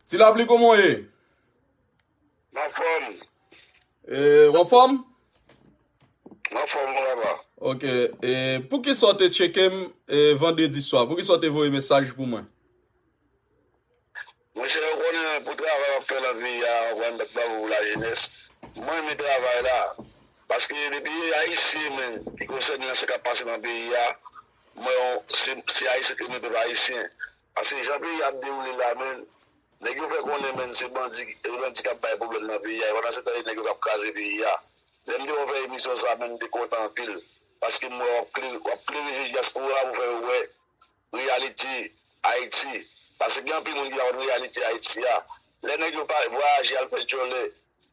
Ti lapli kòman w ye? M anfòm. E, w anfòm? M anfòm wi papa. Ok, e poukisa w te tcheke m e vandredi swa? Poukisa w te voye mesaj pou mwen? Monchè, ou konnen pou travay w ap fè lan peyi a, ou konn bat bravo pou lajenès. Mwen renmen travay la. Paske depi e ayisyen menm ki konsène lan sa k ap pase lan peyi a, m wè se ayisyen k renmen pèp ayisyen. Paske jan peyi a ap dewoule la menn, nèg yo fè konnen menn se bandi e bandi kap bay pwoblèm nan peyi a e pandan se tan e nèg yo kap kraze peyi a. Lè m te wè w fè emisyon sa menn m te kontan anpil paske m wè w ap klere je dyaspora pou fè yo wè reyalite Ayiti paske gen anpil moun ki pa konn reyalite Ayiti a. Lè nèg yo pa vwayaje al fè djòlè.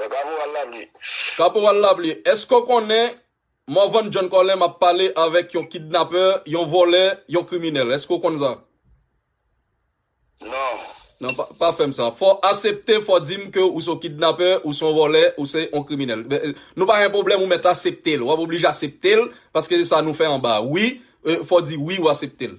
Wè kaporal labli. Kaporal labli, èske w konnen Morvan John Colem ap pale avèk yon kidnapè, yon vòlè, yon kriminèl? Èske w konn sa? Non. Non, pa fè m sa. Fò w asepte, fò w di m ke ou se yon kidnapè, ou se yon vòlè, ou se yon kriminèl. Nou pa gen pwoblèm, ou mèt asepte l. W ap oblije asepte l, paske se sa nou fè anba a. Wi, fò w di wi ou asepte l.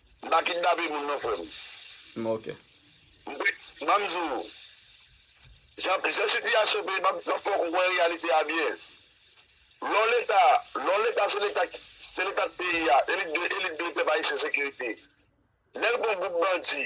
M pa kidnape moun non frem. M ok. Banm di w. Jan sitiyasyon peyi map map fè w konprann reyalite a byen. Lè w leta, lè w leta se leta se leta k peyi a e li dwe e li dwe pèp ayisyen sekirite. Lè l gon gwoup bandi.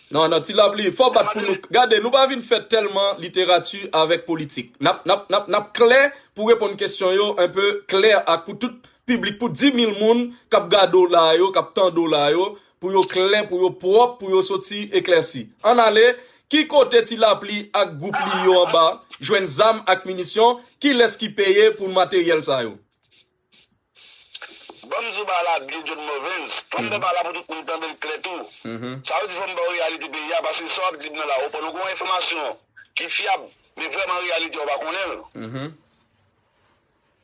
Nan nan ti love li fò bat pou nou gade nou pa vin fè tèlman literati avèk politik nap nap nap nap klè pou reponn kesyon yo un peu klè ak pou tout piblik pou 10000 moun kap gade w la yo kap tande w la yo pou yo klè pou yo pwòp pou yo soti eklèsi ann ale ki kote ti lapli ak gwoup li yo anba jwenn zam ak minisyon kilès ki peye pou materyèl sa yo. Banm di w bagay la byen John Morvens, fòm ba bagay la pou tout moun tande l klè tou. Sa vle di fòm ba w reyalite peyi a paske sa w ap di m nan la ou pran nou gon enfòmasyon ki fyab men vrèman reyalite a ou pa konnen l.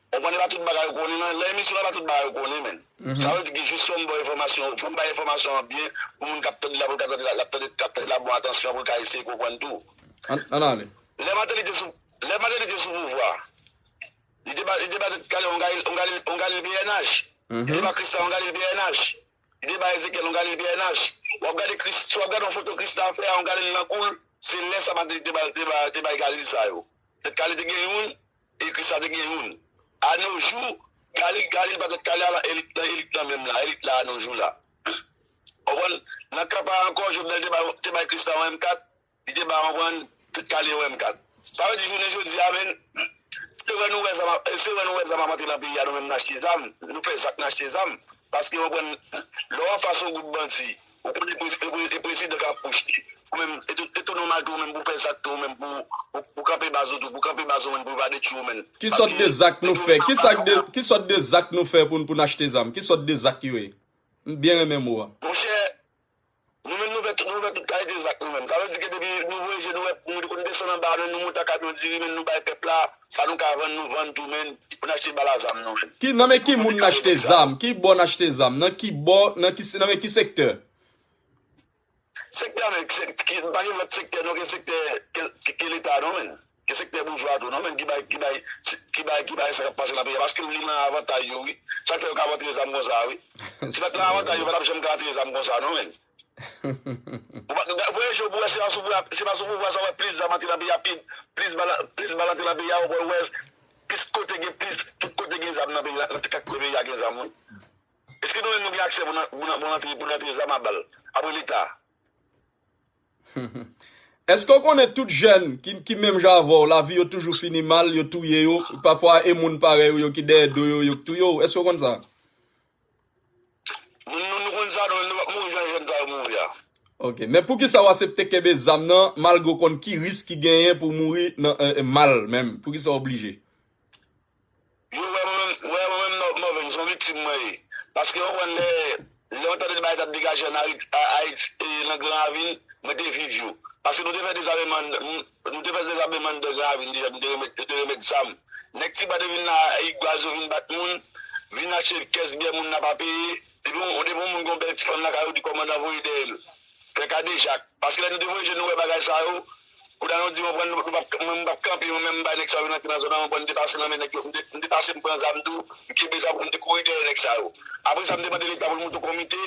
Ou konprann e pa tout bagay ou konnen nan lan emisyon lan e pa tout bagay ou konnen menn. Sa vle di gen jis fòm ba w enfòmasyon fòm bay enfòmasyon an byen pou moun k ap tande l la pou l ka tande l ap tande l ap tande l a bon atansyon pou l ka eseye konprann tou. Ann ale. Lè Mateli te sou pouvwa. Li te bay Galile yon Galile bnh. Li te bay Christa yon Galile bnh. Li te bay Ezekyèl yon Galile bnh. W ap gade Christa, si w ap gade yon foto Christa ap fè a yon Galile nan kou l, se lè sa Mateli te bay Galile sa yo. Tèt kale te gen youn e Christa te gen youn. A no jou, Galile pa tèt kale a lan elit lan menm la, elit la a no jou la. Konprann? Nan kan pa a ankò, Jovenel te bay Christa yon M4. Li te bay konprann tout kale wè m kat. Sa vle di jounen jodi a menn se wè nou wè zam ap se wè nou wè zam ap antre nan peyi a nou menm n achte zam nou fè zak n achte zam paske ou konprann lè w anfas yon gwoup bandi ou konnen prezi e prezidan k ap pwoche ou menm e tou e tou nòmal tou ou menm pou w fè zak tou ou menm pou w pou w kanpe baz ou tou pou w kanpe baz ou menn pou yo pa detwi ou menn Ki sòt paske de zak nou nèg yo fè menm ki sa k de ki sòt de zak nou fè pou n pou n achte zam ki sòt de zak yo ye m byen renmen mo a. Monchè Nou menm nou vè nou vè tout kalite zak nou menm. Sa vle di ke depi nou voye je nou wè nou konn desann anba men nou monte kamyon diri men nou bay pèp la sa nou ka vann nou vann tou men pou n achte bal a zam nou. Ki nan men ki moun n achte zam? Ki bò n achte zam? Nan ki bò nan ki nan men ki sektè? Sektè men ki pa gen lòt sektè non ke sektè ke leta non men. Gen sektè boujwa a tou non menm ki bay ki bay ki bay ki bay sa kap pase nan peyi a paske li nan avantay yo wi sa fè yo ka vantre zam konsa wi si pat nan avantay yo patap janm ka antre zam konsa non menn ou pa nou voye je w pou wè se pa sou pouvwa se pa sou pouvwa sa wè plis zam antre nan peyi a pi plis bal plis bal antre nan peyi a ou pa wè plis kote gen plis tout kote gen zam nan peyi a nan kat kwen peyi a gen zam wi eske nou menm nou gen aksè pou nan pou nan pou nan antre pou nan antre zam a bal apre leta. Eske ou konnen tout jèn ki menm jan avèw lavi yo toujou fini mal yo touye yo pafwa e moun parèy ou yo ki dèyè do yo yo k touye w eske ou konn sa. Nou konn sa nou pap mouri jan jèn sa yo mouri a. Ok men poukisa ou asepte kenbe zam nan malgre ou konn ki risk ki genyen pou mouri nan mal menm poukisa ou oblije. Yo wè mwen menm nan mòvenn son viktim mwen ye. Paske yo konn lè yon tande de bagay kap degaje an Ayiti e nan gran ravin mwen te viv yo. Paske nou te fè dezameman nou te fè dezameman nan gran ravin deja nou te remèt zam. Nèg tiba te vin nan Ayik Gwazi yo vin bat moun, vin achte kès byè moun nan pa peye. Depi yon moun gen yon bèl ti fanm lakay yo di kòmandan voye dèyèl. Pè kadejak. Paske lè nou te voye je nou wè bagay sa yo, kouda nou di anpren nou pap mwen m pap kanpe mwen menm m bay nèg sa yo vin antre nan zòn an anpren m te pase nan men nèg yo m te pase m pran zam tou m kenbe zam tou m te kouri dèyè nèg sa yo apre sa m te mande leta pou l moute yon komite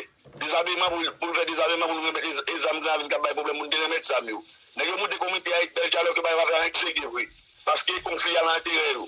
dezameman pou l fè dezameman pou nou remèt e zam gran avin k ap bay pwoblèm pou nou te remèt zam yo nèg yo moute komite a e bèl dyalòg yo bay yo pa fè anyen ki serye vre paske konfli a nan enterè yo.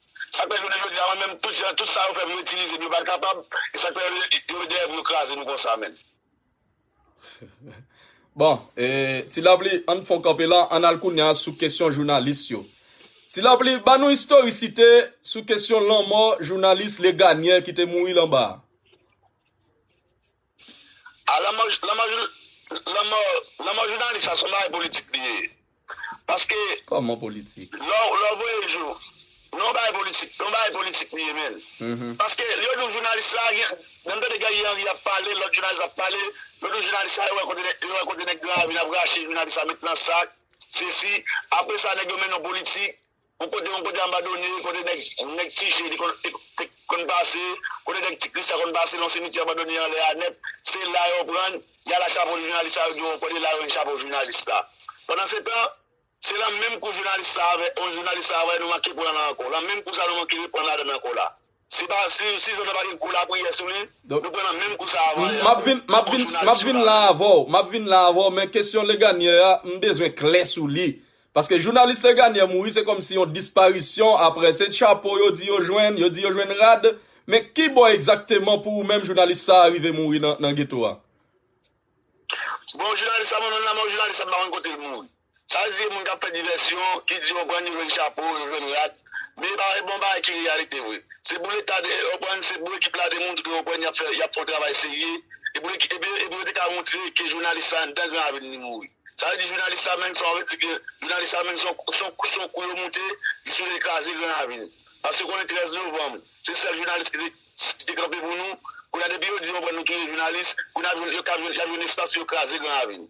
Sak fè jounen jodi a mwen menm tout jan tout sa yo fè pou yo itilize m yo pat kapab e sak fè yo yo dèyè pou yo kraze nou konsa menn. Bon e ti lapli ann fon kanpe la ann al kounya sou kesyon jounalis yo ti lapli ba nou istorisite sou kesyon lanmò jounalis Leganyè ki te mouri lan ba a. A la mò la mò la mò la mò jounalis sa son bagay politik li ye paske Kòman politik? lè w lè w voye l jou non yon bagay politik yon bagay politik li ye menn paske yo di w jounalis sa gen lè m tande Guerrier Henry ap pale lòt jounalis ap pale yo di w jounalis sa yo wè kote yo wè kote nèg gran ravin ap rache jounalis sa met nan sak sesi apresa nèg yo mennen w politik Yon kote yon kote anbadone, kote nèg nèg ti je te konn te konn pase, kote nèg ti kris la konn pase nan simityè anbadone anlè a nèt, se la yo prann, y al a chapo jounalis sa yo di w yon kote la yo jwenn chapo jounalis la. Pandansetan, se lan menm kou jounalis sa a vè, on jounalis sa a vè nou manke pran la ankò, lan menm kou sa nou manke reprann ladann ankò la. Si pa si si zonè pa gen gwo lapriyè sou li, nou pran nan menm kou sa avan yè. Map vin map vin map vin la avè w, map vin la avè w men kesyon Leganyè a m bezwen klè sou li. Paske jounalis Leganyè mouri se kòmsi yon disparisyon aprè se chapo yo di yo jwenn, yo di yo jwenn rad, men ki bò egzakteman pou ou menm jounalis sa a rive mouri nan nan geto a? Bon jounalis sa mwen menm la men yon jounalis sa m pa konn kote l mouri. Sa l di e moun k ap fè divèsyon, ki di yo prann yo jwenn chapo, yo jwenn rad. Men e pa e bon bagay ki reyalite vre. Se pou leta de e prann se pou ekip la demontre yo prann y ap fè y ap fè yon travay serye e pou e pou e pou yo te ka montre ke jounalis sa anndan gran avil ni mouri. Sa vle di jounalis sa menm sa w vle di ke jounalis sa menm se yon se yon se yon kou yo moute jis yo vle kraze gran avil. Paske konnen 13 novanm se sèl jounalis ki te ki te kanpe pou nou. Kounye a depi yo di yo prann nou touye jounalis, kounye a yo ka jwenn y ap jwenn espas pou yo kraze gran avil.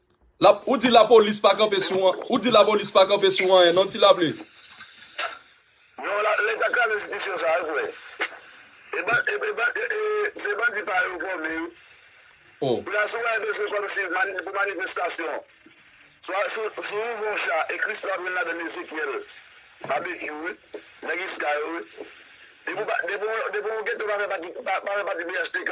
Ou di la polis pa kanpe sou an, ou di la polis pa kanpe sou anyen non ti laple. Non la leta kraze enstitisyon sa yo kwè. E ban e e ban e e se bandi pa yo fòme yo. Oh. Koulya si w wè bezwen kòm si mani pou manifestasyon swa si w si w ouvè yon cha e Christo ap jwenn ladan l Ezekyèl, Babekyou wi, nèg iska yo wi. Depi w pa depi w depi w geto pa fè pati pa fè pati BHTK.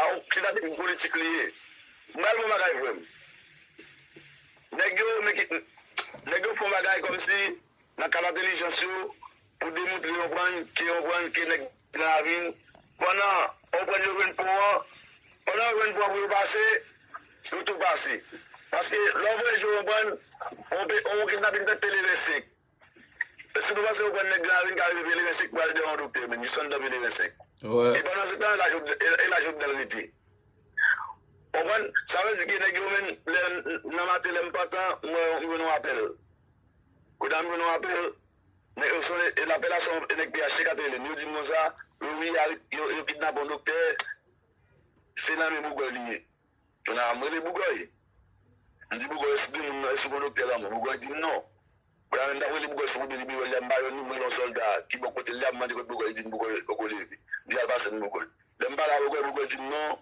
Aw kisa depi politik li ye. Bal bon bagay frem. Neg yo meki neg yo fon bagay komsi nan kad entelijans yo pou demoutre yon prann ke yon prann ke neg nan lavil pandan yon prann yo jwenn pon an pandan yo jwenn pon an pou yo pase yo tou pase paske lè w voye jwe yon prann yon kidnapin fèt pele vè sek. Si nou panse nou konn nèg larin ka rive pelerin 5 pral devan doktè menm jis anndan pelerin 5 e pandan se tan e la Jovenel rete ou konprann sa vle di ke nèg yo menm lè nan maten lèm pantan m wè m jwenn yon apèl kounye a m jwenn yon apèl nèg yo sone e lapèl la se yon nèg pnh ka te relem yo dim konsa yo wi yo kidnape yon doktè se nan men Bougoy li ye. Jona, M rele Bougòy. M di Bougòy, Èske gen moun nan? Èske ou konn doktè lanmò? Bougòy di m, Non. Bon, lè m t ap rele Bougòy sou kote li biwo l la, m pa jwenn li, m rele yon sòlda ki bò kote l la, m mande kote Bougòy, li di m Bougòy poko leve. M di al pase m Bougòy. Lè m pale a Bougòy, Bougòy di m, Non,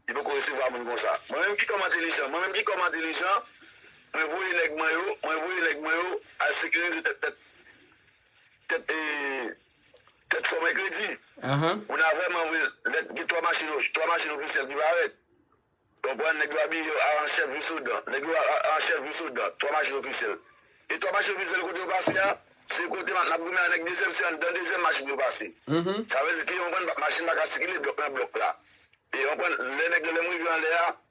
li poko resevwa moun konsa. Mwen menm ki kòm entelijan, mwen menm ki kòm entelijan, mwen voye nèg mwen yo, mwen voye nèg mwen yo al sekirize tèt tèt Tèt e Tèt fò mèkredi moun a vrèman vre lè gen 3 machin 3 machin ofisyèl ki parèt ou konprann nèg yo abiye yo a an chèf vin sou dan nèg yo a an chèf vin sou dan 3 machin ofisyèl e 3 machin ofisyèl kote yo pase a se kote map nap goumen an nèg dezyèm se anndan dezyèm machin yo pase sa vle di ke ou konprann machin paka sikile blòk nan blòk la e ou konprann lè nèg yo lèm rive anlè a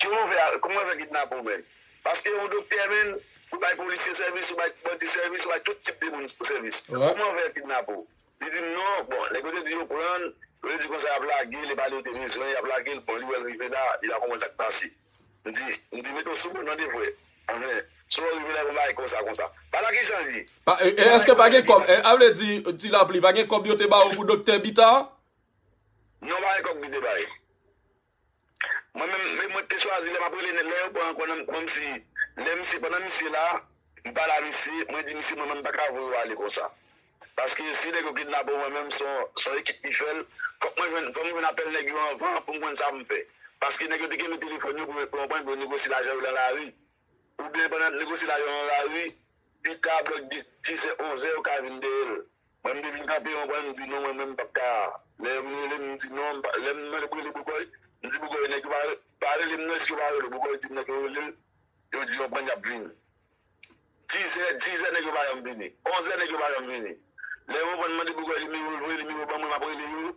Kè ou ouvè al, kouman yo fè kidnape ou menm? Paske yon doktè menn, ou bay polisye sèvis, ou bay bandi sèvis, ou bay tout tip de moun sèvis. Kouman yo fè yo kidnape ou? Li di m non, bon, nèg yo te di yo pran l, yo te di konsa y ap lage l, e pa li yo te bezwen, y ap lage l, bon li wè l rive la, li pa konprann sa k pase. M di, m di mete w sou kont an de frè, anfen, si w wè w rive la, yon bagay konsa konsa. Pa la kijan l ye? E èske pa gen kòb? A vle di, Ti Lapli, pa gen kòb yo te ba ou pou doktè Bita a? Non, pa gen kòb ki te bay. Mwen menm mwen te chwazi lè map rele nèg lè yo pran kò nan kòmsi lè misye pandan misye la m pale a misye mwen di misye mwen menm m paka voye w ale konsa paske si nèg yo kidnape w mwen menm son ekip ki fè l fòk mwen jwenn fòm jwenn apèl nèg yo anvan pou m konn sa pou m fè paske nèg yo te kenbe telefòn yo pou yo pran pou yo negosye lajan yo nan lari oubyen pandan yap negosye lajan yo nan lari pita blòk dizè onzè yo ka vin dèyè l. Mwen m te vin kanpe yon kwen m di non mwen menm m pap ka lè yo vin rele m m di non lè m mande pou rele bogòy m di bogòy nèg yo pa rele m non eske yo pa rele w bogòy di m nèg yo rele l yo di yon kwen yap vini dizè dizè nèg yo pa janm vini onzè nèg yo pa janm vini lè yo konprann m mande bogòy nimewo l voye nimewo ban mwen map rele yo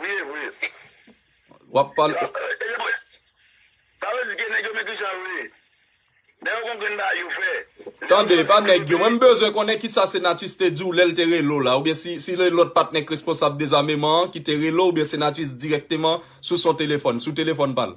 Wi e vre. Wap pale. E se vre. Sa vle di ke nèg yo mete jan yo vle. Lè yo konprann bagay yo fè. Tande, epa nèg yo. Mwen m bezwen konnen kisa Senatus te di w lè l te rele w la. Oubyen si se lòt patnè k responsab dezameman an ki te rele w oubyen Senatus dirèkteman sou son telefòn, sou telefòn pa l.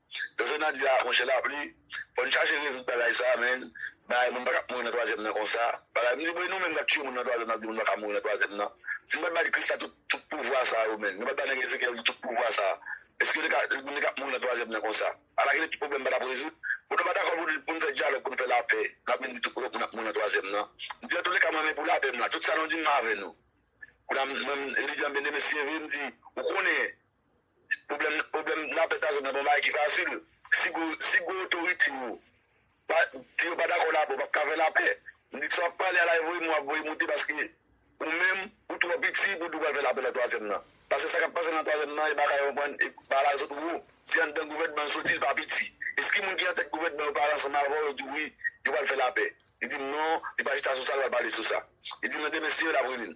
Professor Nadia monchè lapli fòn chache rezoud bagay sa menn bagay moun pakab mouri nan twazyèm nan konsa bagay mdi bon e nou menm nap tiye moun nan twazyèm nap di moun paka mouri nan twazyèm nan si nou pat bay kris la tout pouvwa sa yo menn nou pat bay nèg Ezekyèl yo tout pouvwa sa eske yo teka moun teka mouri nan twazyèm nan konsa ala kilè tout pwoblèm patap rezoud bon nou pa dakò poun fè dyalòg poun fè lapè nap vin di tout moun ap mouri nan twazyèm nan mdi antoulèka mwen men pou lapè m la tout sa nou dim m avè nou kounam mwen Elidian Bndye mesi vre mdi ou konnen Pwoblèm pwoblèm nan pèt azot nan pa yon bagay ki fasil. Si gwo si gwo otorite yo pa di yo pa dakò lapè ou pap ka fè lapè. M di si w ap pale a lay voye m ou ap voye moute paske ou menm ou twò piti pou di w pral fè lapè nan twazyèm nan. Pase sa k ap pase nan twazyèm nan e bagay yo pran e bagay sot wo. Se anndan gouvènman l soti l pa piti. Eske moun ki antèt gouvènman yo pale ansanm avè w yo di w wi yo pral fè lapè. Li di m non li pa chita sou sa li pa pale sou sa. Li di m nan demen se yo l ap rele l.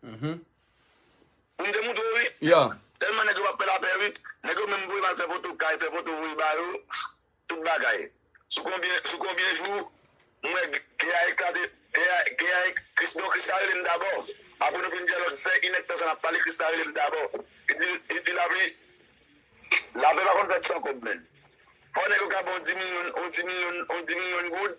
Pou m te moute w wi. Tèlman nèg yo pa p fè lapè wi. Nèg yo menm voye m al fè foto kay, fè foto voye ba yo. Tout bagay. Sou konbyen sou konbyen jou m wè gè a eklate gè a gè a Kris non Krisla rele m dabò. Apre nou fin dyalòg fè inèdtan sa n ap pale Krisla rele m dabò. Li di li di lapè lapè pa konn fèt san kòb menn. Fò nèg yo ka ban w di milyon on di milyon on di milyon goud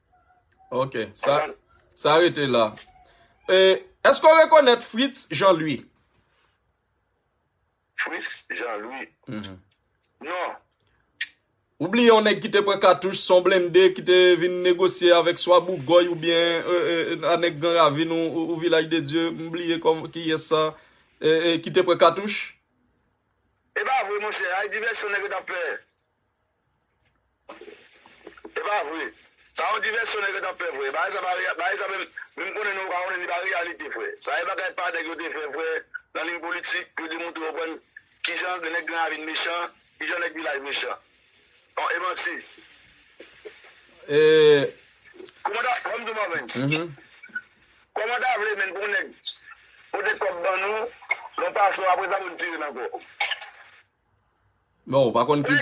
Ok, sa rete la. Eske ou rekonèt Fritz Jean-Louis? Fritz Jean-Louis? Mm-hmm. Non. Ou bliye yon nèg ki te pran katouch son blende ki te vin negosye avèk swa Bougoy ou byen euh, euh, euh, a nèg Gran Ravin ou Vilaj de Dieu, m bliye kòm ki yè sa, ki te pran katouch? E ba vre monsè, ay divèsyon nèg yo tap fè. Epa vre Sa yon divèsyon nèg yo tap fè frè bagay sa pa reyal bagay sa menm menm konnen nou yo ka konnen li pa reyalite frè sa e bagay pa nèg yo te fè frè nan liy politik pou yo te moutre yo konn kijan nèg gran ravin mechan kijan nèg vilaj mechan an e manti Kòmanda fòm di w Marvens Kòmanda vle menn pou yon nèg pote kòb ban nou nan yon pasò apresa pou n tire n ankò. Bon ou pa konn ki.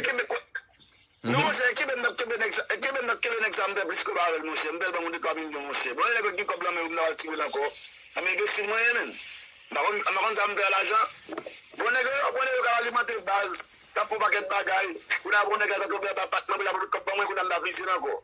Non monchè kenbe nap kenbe nèg sa kenbe nap kenbe nèg sa m fè plis kob avèl monchè m fèl banm yon de twa milyon monchè bon lè nèg la t gen kòb lan men yo m ta pral tirel ankò nan enbesil mwen ye menm m pa konn m pa konn sa m fè a lajan bon nèg yo bon nèg yo kap alimante baz kap fon pakèt bagay kounye a bon nèg la ta tonbe anba bak mwen pou l ap voye tout kòb ban mwen kounye a m ta frisel ankò.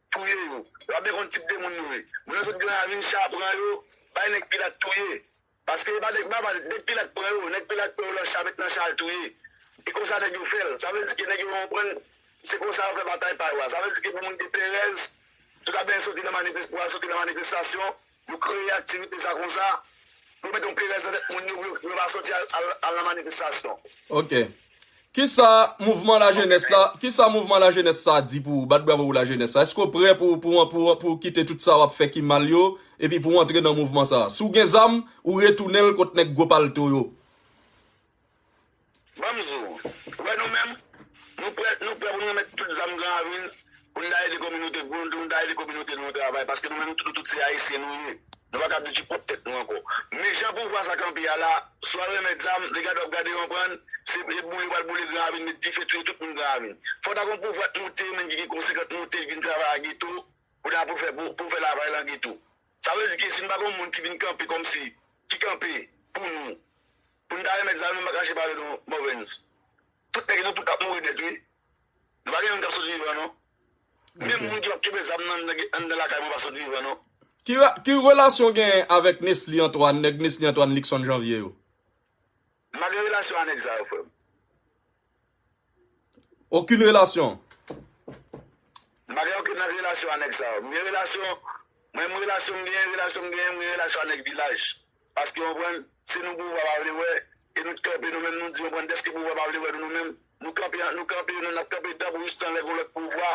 Touye yo. Wap byen konn tip de moun yo ye. Moun nan se t gen ravin cha pran yo bay nèg pilat touye. Paske epa nèg baba nèg pilat pran yo nèg pilat pran yo nan cha met nan cha al touye. E konsa nèg yo fèl. Sa vle di ke nèg yo konprann se konsa yo fè batay pa yo a. Sa vle di ke pou moun gen perèz tout ap byen soti nan manifes pou al soti nan manifestasyon Yo kreye aktivite sa konsa pou yo mete yon perèz nan tèt moun yo pou yo pa sòti al nan manifestasyon. Ok. Kisa mouvman lajenès la, kisa mouvman lajenès sa di pou ou? Bat bravo pou lajenès sa. Eske ou prè pou ou kite tout sa w ap fè ki mal yo epi pou ou antre nan mouvman sa? Si w gen zam, ou retounen l kot nèg gwo palto yo. Banm di w, ou wè nou menm, nou prè nou prè pou nou renmèt tout zam gran avil pou nou ta ede kominote pou nou ta ede kominote nou an travay paske nou menm nou tout se ayisyen nou ye nou pa ka ap detui pwòp tèt nou ankò men jan pouvwa sa kanpe a la swa yo renmèt zam de gade wap gade yo anprann se e boule yo pral boule gran avil met dife touye tout moun gran avil fò ta gon pouvwa t moute menm ki gen konsekant moute vin travay a geto pou ta pou fè pou fè lavay lan geto. Sa vle di ke si n pa gen yon moun ki vin kanpe kòmsi, ki kanpe pou nou, pou n ta remèt sa yo nou pa kache pale non Morvens. Tout nèg yo tout ap mouri nèt wi. Nou pa gen youn k ap sot vivan non. Menm moun ki p ap kenbe zam nan anndan lakay mwen pa sot vivan non. Ki relasyon w genyen avèk Nesly Antoine, nèg Nesly Antoine, Luckson Janvier yo? M pa gen relasyon a nèg sa yo frè m. Okin relasyon. M pa gen okin relasyon a nèg sa yo. M gen relasyon, mwen m relasyon m genyen, relasyon m genyen, m gen relasyon a nèg vilaj. Paske ou konprann, se nou pouvwa pa vle wè, e nou t kanpe nou menm nou di ou konprann dèske pouvwa pa vle wè nou nou menm, nou kanpe an nou kanpe nou nap kanpe danm jistan lè gon lòt pouvwa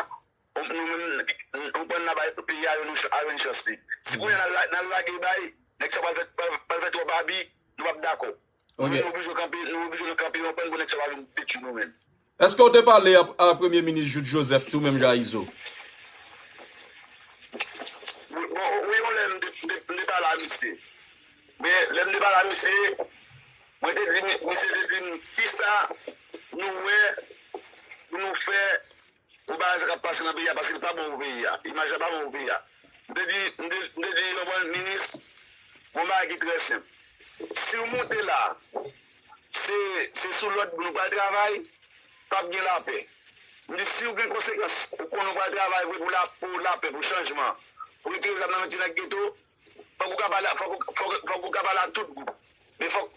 ou nou menm ou konprann na bay peyi a yon a yon chans li. Si kounya nal nal lage bay, nèg sa pral fè pral fè twòp abi, nou pap dakò. Ok. Nou oblije kanpe, nou oblije nou kanpe yon kwen pou nèg sa pa vin detui nou menm. Eske ou te pale ap a premye minis Jude Joseph tou menm jan a Izo? Bon wi yon lè m te pale a misye. Men lè m te pale a misye, mwen te di misye te di m kisa nou wè pou nou fè. Bon bagay sa kap pase nan peyi a paske li pa bon pou peyi a imaj la pa bon pou peyi a m te di m te di yon bon minis yon bagay ki trè senp siw moute la se se sou lòd nou pral travay pap gen lapè m di siw gen konsekans ou konnen ou pral travay vre pou lapè pou chanjman pou retire zam nan men ti nèg geto. Fòk ou ka pale ak fòk ou ka pale ak tout gwoup men fòk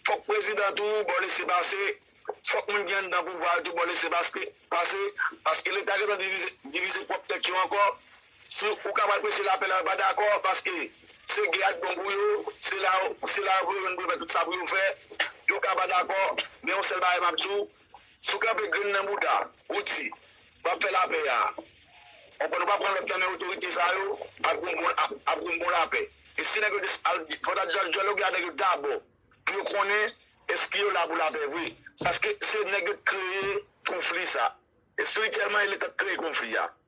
fòk prezidan tou ba w lese pase fòk moun ki anndan pouvwa yo tou ba w lese paske pase paske leta gentan divize divize pwòp tèt yo ankò si ou ka pral preche lapè la yo pa dakò paske se gè a k bon pou yo se la se la yo pou yo jwenn pou yo fè tout sa pou yo fè yo ka pa dakò men yon sèl bagay m ap di w Si w kanpe grenn nan bouda ou di wap fè lapè a on pwen nou pa pran lòd nan men otorite sa yo ap gen yon bon lapè e si nèg yo te al fòk ta al dyaloge avèk yo dabò pou yo konnen eske yo la pou lapè vre paske se nèg yo t kreye konfli sa espirityèlman e leta t kreye konfli a.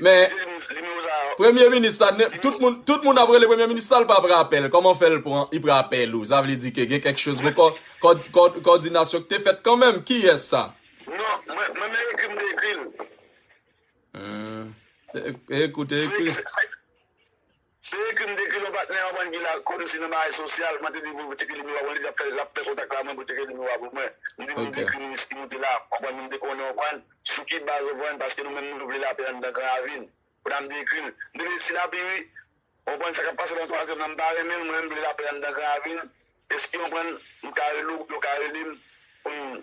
Men, premye minis la, tout moun ap rele premye minis la, li pa pran apèl, kòman fè l pran, li pran apèl ou, sa vle di ke gen kèk chòz, kòdinasyon ki te fèt kanmèm, ki yè sa? Non, mwen men ekri m te ekri l. Hum, te ekri w te ekri l. Se ekri m te ekri lò patnè an bann ki la kòmsi nan bagay sosyal mwen te di pou ti Kelimi wa mwen te di lap lap fè kontak la mwen pou ti Kelimi wa pou mwen m di pou nou dekri minis ki moute la konprann nou m te konnen w konprann sou ki baz ou konprann paske nou menm nou vle lapè anndan gran ravin konn m te ekri l m te vle si lapi wi ou konprann sa kap pase nan twazyèm nan m pa renmen l mwen menm m vle lapè anndan gran ravin eskew konprann m ka rele w oubyen w ka rele m pou n.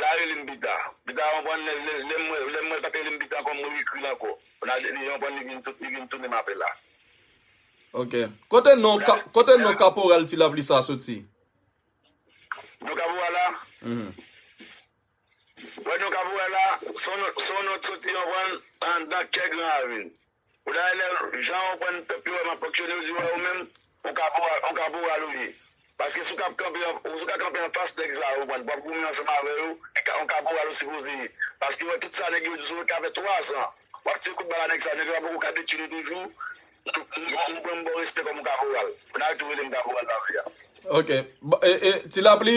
La rele m pita. Pita konprann lè m wè l pa t rele m pita ankò, m reekri l ankò. Li konprann li vin tounen m apèl la. Ok. Kote non kaporal Ti Lapli sa soti? Non kaporal la? Wè non kaporal la, se yon non ki soti andan kè Gran Ravin. Ou dayè lè jan ou konprann pèp yo wè map fonksyone yo di wè ou menm ou kaporal ou kaporal ou ye paske si ou ka kanpe si ou ka kanpe anfas nèg sa yo ou konprann wap goumen ansanm avè yo ou kaporal ou sipoze ye paske ou wè tout sa nèg yo di sou ou sa fè 3 zan wap tire kout bala nèg sa yo nèg yo pa poko ka detwi nou toujou ou pranm baw respè kòm kaporal ou dayè tou relem kaporal nan vi a. Ok ti lapli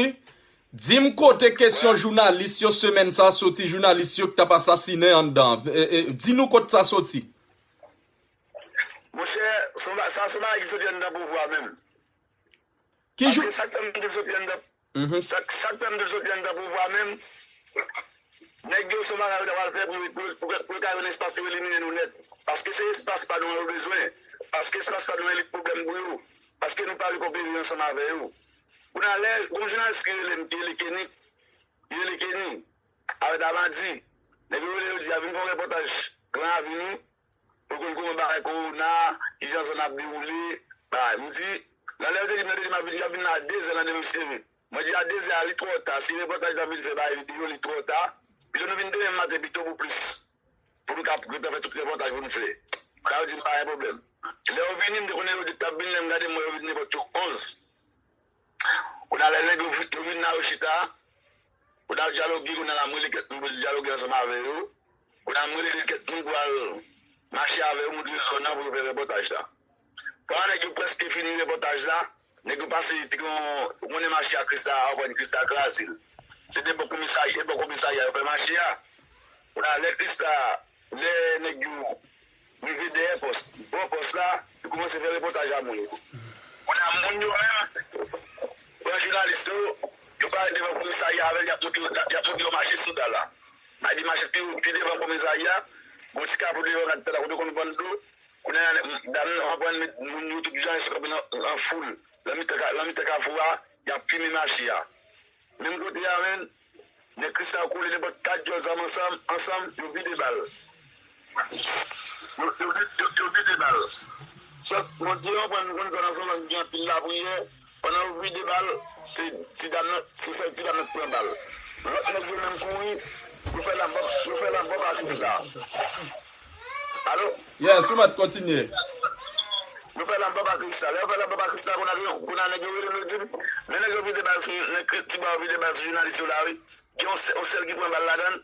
Dim kote kesyon jounalis yo semèn sa soti jounalis yo ki tap asasinen anndan di nou kot sa soti. Monchè sa son bagay ki soti anndan pouvwa menm. Paske sak fèm di l soti anndan pouvwa menm Nèg yo son bagay yo ta pral fè pou yo ka jwenn espas yo elimine nou nèt paske se espas pa nou an yo bezwen paske espas pa nou an li pwoblèm pou yo paske nou pa vle kopere ansanm avè yo kounye a lè gon jounalis ki rele m ki rele Kenny ki rele Kenny avè Damadi nèg yo rele yo di a vin fè yon repòtaj gran avini pou konn kouman bagay kowona kijan zòn nan ap dewoule bagay m di nan lè yo te di m nan te di m ap vin y ap vin nan a dezè nan demen m sere. Mwen di a dezè a li twò ta si repòtaj la vin fè bay video li twò ta pito nou vin demen maten pito pou plis pou nou ka gentan fè tout repòtaj pou nou fè sa yo dim pa gen pwoblèm lè yo vini m te konnen yo di tap vini lè m gade m wè yo vin nenpòt yo 11 kounya lè nèg yo vin la yo chita kounya yo dyaloge kounya la m rele kèt moun pou nou dyaloge ansanm avè yo kounya m rele de kèt moun pou al mache avè yo moutre yo zòn nan pou yo fè repòtaj sa. Kouman nèg yo preske fini repòtaj la, nèg yo pase tron, ou konnen mache a Christa a reprann Christa kraze l. Se de bò komisarya e bò komisarya yo fè mache a. Kounye a lè Christa, lè nèg yo rive dèyè pòs, bò pòs la, yo koumanse fè repòtaj a moun yo. Kounye a moun yo menm pran jounalis yo, yo pare devan komisarya avè l yap montre yo yap montre yo mache soda la. Ayy li mache pi devan komisarya, gon ti kafou devan l ak tè la kote yo konn vann dlo. Kounye a, dam nan anprann met moun yo tout jan esklav nan foul, lan mitan kafou a, y ap pimen mache a. Menm kote a menm, nèg Christian kole nenpòt kat dyòl zam ansanm, yo vide bal. Yo vide bal. Jès, Bondye anprann nou konn sa nan zòn lan ki gen anpil lapriyè. Pandan yo vide ba l, se ti dam nan, se sèl ti dam nan ki pran bal. Lòt nèg yo menm kouri, yo fè lanbòp, yo fè lanbòp ak Rita. Alo? Yes, ou mèt kontinye. Yo fè lanbòp ak Rita. Lè yo fè lanbòp ak Rita, konn a nèg yo rele m, yo di m, men nèg yo vide bal sou, nèg Christie ba yo vide bal sou jounalis yo la wi. Gen yon sèl ki pran bal ladan l,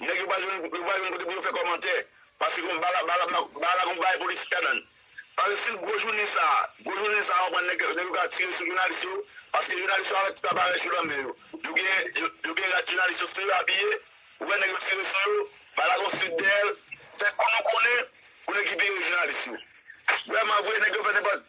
Nèg yo pa jwenn yo pa jwenn kote pou yo fè kòmantè paske gon bala bala bala gon bagay politik ladann paske si gwo jounen sa gwo jounen sa konprann nèg nèg yo ka tire sou jounalis yo paske jounalis yo avèk tout aparèy yo nan men yo yo gen yo gen rad jounalis yo sou yo abiye ou wè nèg yo tire sou yo bala gon sik dèyè l fè kou nou konnen pou n ekipere jounalis yo vrèmanvre nèg yo fè nenpòt.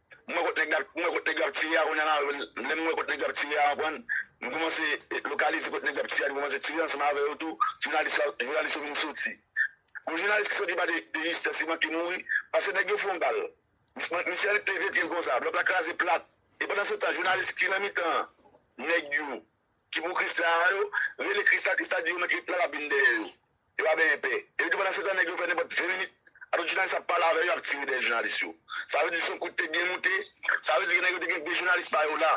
M wè kot nèg la, m wè kot nèg yo ap tire a kounya la, lè m wè kot nèg yo ap tire a konprann, m kòmanse lokalize kot nèg yo ap tire a, m kòmanse tire ansanm avè yo tou, jounalis yo, jounalis yo vin soti. Yon jounalis ki soti pa de de jistès li manke mouri paske nèg yo fon bal. Misye a li t leve pye l konsa, blòk la kraze plat e pandan se tan jounalis ki nan mitan nèg yo ki pou krisla a yo rele krisla, krisla di yo mèt ret la lap vin dèyè yo. Yo pa benyen pè. Epi pandan se tan nèg yo fè nenpòt 20 minit atout jounalis ap pale avè yo ap tire dèyè jounalis yo. Sa vle di son kout te byen moute, sa vle di gen nèg yo te gen 2 jounalis pa yo la.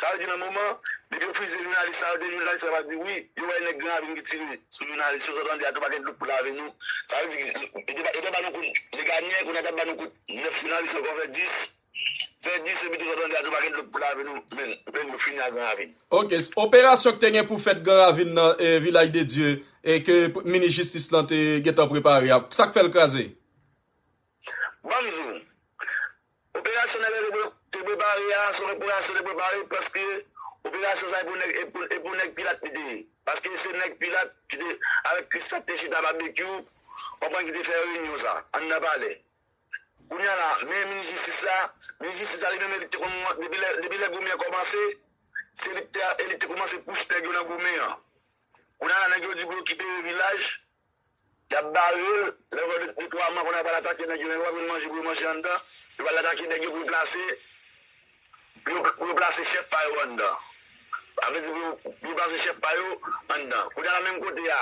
Sa vle di nan moman depi yo fizye jounalis sa yo 2 jounalis sa yo ap di wi yo wè nèg Gran Ravin ki tire sou jounalis yo sot an di atou pa gen dlo pou lave nou. Sa vle di yo te ba nou kout Legagne kounye a ta ba nou kout 9 jounalis ankò fè 10. Fè di se pito sa bandi a tou pa gen dlo pou lave nou menn menn nou fini ak gran ravin. Ok, operasyon ki te gen pou fèt gran ravin nan vilaj de Dye e ke minis jistis lan te gentan prepare a sak fèl kraze? Banm di w, operasyon nèg la te prepare a se yon operasyon te prepare paske operasyon sa e pou nèg pilat li te ye paske se nèg pilat ki te avèk kris la ki te chita babekyou konprann ki te fè reyinyon sa anndan palè. Kounya la men minis jistis la, minis jistis la li menm li te konn depi lè goumen kòmanse se li te e li te koumanse pouch nèg yo nan goumen an. Kounya la nèg yo di pou yo kite vilaj, yap barel, lè yo fè 2 3 man kounya yo pral atake nèg yo, nèg yo pa jwenn manje pou yo manje anndan, yo pral atake nèg yo pou yo plase pou yo plase chèf pa yo anndan. Sa vle di pou yo plase chèf pa yo anndan. Kounya la menm kote a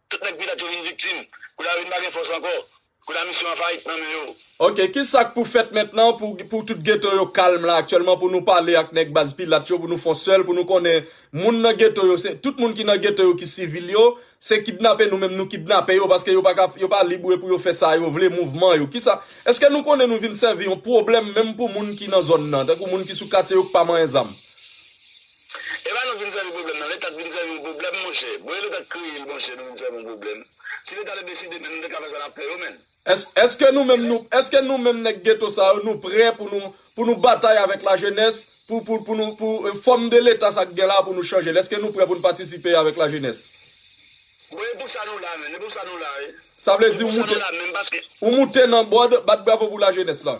Tout nèg vilaj yo vin viktim. Kou la yo vin pa gen fòs ankò. Kou la misyon an fayit nan men yo. Ok kisa k pou fèt mentnan pou pou tout geto yo kalm la aktyèlman pou nou pale ak nèg baz pilat yo pou nou fon sèl pou nou konnen moun nan geto yo se tout moun ki nan geto yo ki sivil yo se kidnape nou menm nou kidnape yo paske yo pa ka yo pa lib pou yo fè sa yo vle mouvman yo kisa eske nou konnen nou vin sèvi yon pwoblèm menm pou moun ki nan zòn nan tankou moun ki sou katye yo k pa manyen zam. Epa nou vin sèvi pwoblèm nan leta t vin sèvi yon pwoblèm monchè bon e leta t kreye l monchè nou vin sèvi yon pwoblèm si leta te deside menm nou te ka fè sa nap fè yo menn. Eske nou menm nou eske nou menm nèg geto sa yo nou prè pou nou pou nou batay avèk la jenès pou pou pou nou pou fòm de leta sa k gen la pou nou chanje l eske nou prè pou nou patisipe avèk la jenès. Bon e pou sa nou la menm e pou sa nou la e. Sa vle di ou moute ou moute nan bòd bat bravo pou la jenès la.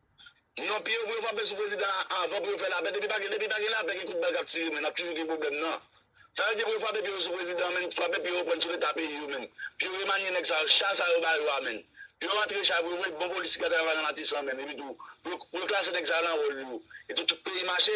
Non pye yo pou yo frape sou prezidan an avan pou yo fè lapè depi pa gen depi pa gen lapè gen kout bal kap tire men nap toujou gen pwoblèm nan sa vle di pou yo frape pye yo sou prezidan an menn frape pye yo prann sou leta peyi yo menn pou yo remanye nèg sa yo cha sa yo ba yo a menn pou yo rantre cha pou yo voye bon polis ki ka travay la matisan menn epitou pou yo klase nèg sa yo nan wòl yo epi tout peyi mache.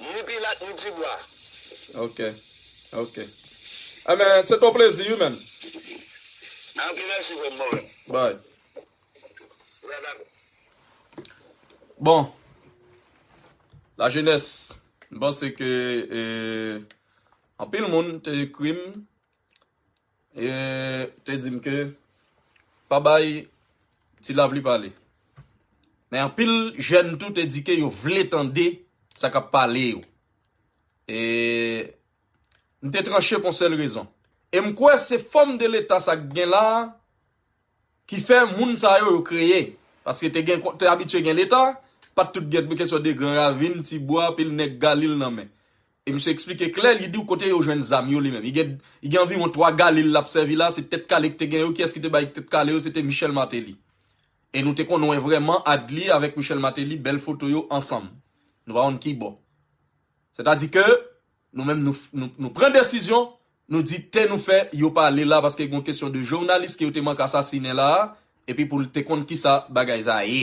Ni pilat ni dibwa. Ok ok Enben se ton plezi wi menn. Ok mèsi frèm mwen menm. Bye. Bra bab. Bon La jeunesse m panse ke anpil moun te ekrim. E te di m ke pa bay Ti Lapli pale. Men anpil jèn tou te di ke yo vle tande sa k ap pale yo. E m te tranche pou yon sèl rezon. E m kwè se fòm de leta sa k gen la a ki fè moun sa yo yo kreye paske te gen te abitye gen leta pat tout gen kesyon de gran ravin ti bwa anpil nèg galil nan men e misye eksplike klè li diw kote yo jwenn zam yo li menm li gen li gen anviwon 3 galil lap sèvi la se tèt kale ki te gen yo kiyès ki te bay tèt kale yo se te Michel Martelly e nou te konn wè vrèman Adly avèk Michel Martelly bèl foto yo ansanm nou pa konn kibò sètadi ke Nou menm nou pran desizyon, nou di te nou fè yo pa ale la paske gon kesyon de jounalis ke yo te mank asasinen la a epi pou l te konn kisa bagay sa ye.